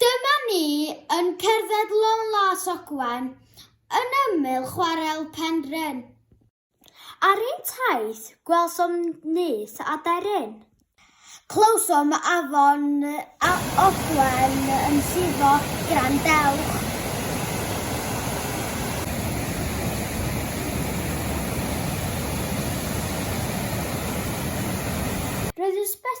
Dyma ni yn cerdded long las Ogwen yn ymyl chwarel Penrhyn. Ar ein taith gwelsom nyth a daearyn. Clywsom afon a Ogwen yn llifo, grandewch. Roedd ysbyty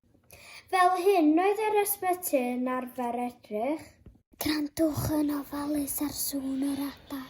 Fel hyn oedd yr ysbyty yn arfer edrych. Grandwch yn ofalus ar sŵn yr adar.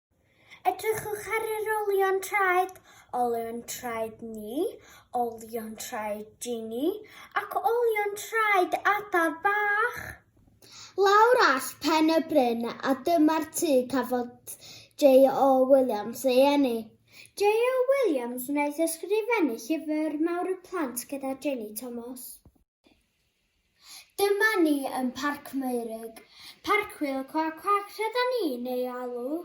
Edrychwch ar yr olion traed, olion traed ni, olion traed Ginny ac olion traed adar bach. Lawr all pen y bryn a dyma'r tŷ cafodd J.O. Williams ei eni. J.O. Williams wnaeth ysgrifennu llyfr mawr y plant gyda Jenny Thomas. Dyma ni yn Parc Meirug. Parc Wil Cwac Cwac rhydan ni'n ei alw.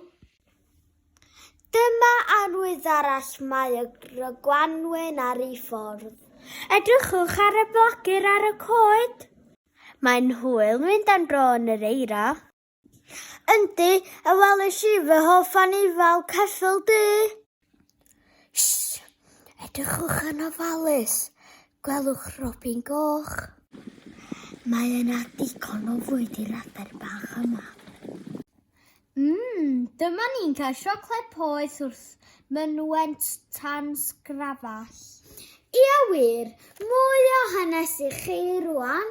Dyma arwydd arall mae y gwanwyn ar ei ffordd. Edrychwch ar y blagur ar y coed. Mae'n hwyl mynd am dro yn yr eira. Yndi, a welish i fy hoff anifail ceffyl du. Shh! Edrychwch yn ofalus. Gwelwch robin goch. Mae yna digon o fwyd i'r adar bach yma. Mmm, dyma ni'n cael siocled poeth wrth mynwent tan sgrafall. Ia wir, mwy o hanes i chi rwan.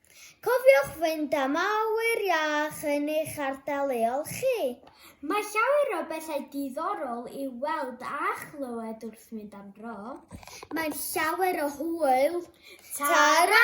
Cofiwch fynd am awyr iach yn eich ardal leol chi. Mae llawer o bethau diddorol i weld a chlywed wrth mynd am dro. Mae'n llawer o hwyl. Ta-ra!